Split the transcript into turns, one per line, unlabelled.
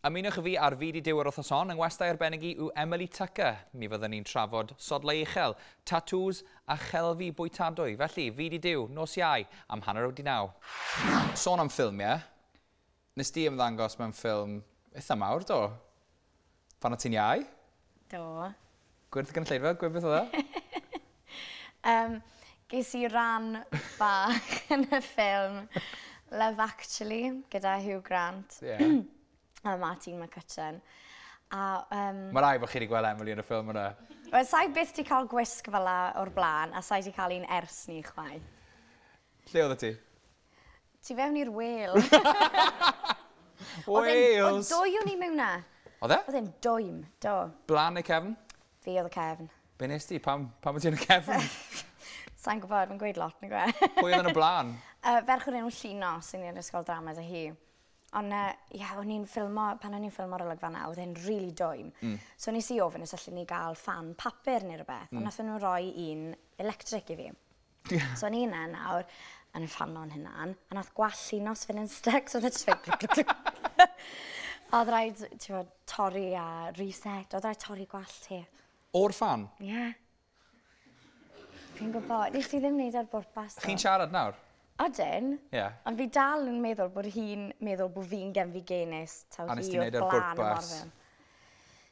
Ymunwch â fi ar Fyd i Duw yr wythnos hon, yng ngwestai arbennig i yw Emily Tucker. Mi fyddwn ni'n trafod sodlau uchel, tatŵs a chelfi bwytadwy. Felly, Fyd i Duw, nos Iau, am hanner wedi naw. Sôn am ffilmiau, nes di ymddangos mewn ffilm eitha mawr, do? Pan o' ti'n iau? Do.
Gwyrth
gynulleidfa? Gwyrth beth odd o? Yym ges
i ran bach yn y ffilm Love Actually gyda Hugh Grant. Ie.
a Martine
McCutcheon. A yym...
Ma' rai' bo' chi 'di gweld Emily yn y ffilm yna. Wel sai byth 'di
ca'l gwisg fel 'a o'r bla'n a sai 'di ca'l un ers 'ny chwaith. Lle
oddet ti? Tu fewn
i'r whale.
Oedd e'n- Oedd Wales! dwy o'n i mewn na.
Oedd e? Oedd e'n
dwym,
do. Blan neu cefn?
Fi oedd y cefn.
Be nes ti? Pam,
pam wyt ti yn y cefn? Sa'n
gwybod, mae'n gweud lot, nag yw e? Pwy oedd yn y blaen?
Uh, ferch o'r enw
Llino, sy'n ni'n ysgol drama dy hi. Ond uh, ia, o'n i'n ffilmo, pan o'n i'n ffilmo ar olygfa na, oedd e'n rili really dwym. Mm. So nes i ofyn os allwn ni gael fan papur neu rhywbeth, mm. ond nath nhw roi un electric i fi. So o'n i yna nawr, yn rhanno'n hynna'n, a nath gwallt llinos fynd yn styc, so oedd e jyst A oedd rhaid, ti'n fawr, torri a reset. Oedd rhaid torri gwallt ti. O'r fan?
Ie.
Yeah. Fi'n gwybod. Nes ti ddim wneud ar bwrpas. Chi'n siarad nawr?
Odyn. Ie.
Yeah. Ond fi dal yn meddwl bod hi'n meddwl bod fi'n gen fi genes. A nes ti wneud ar bwrpas?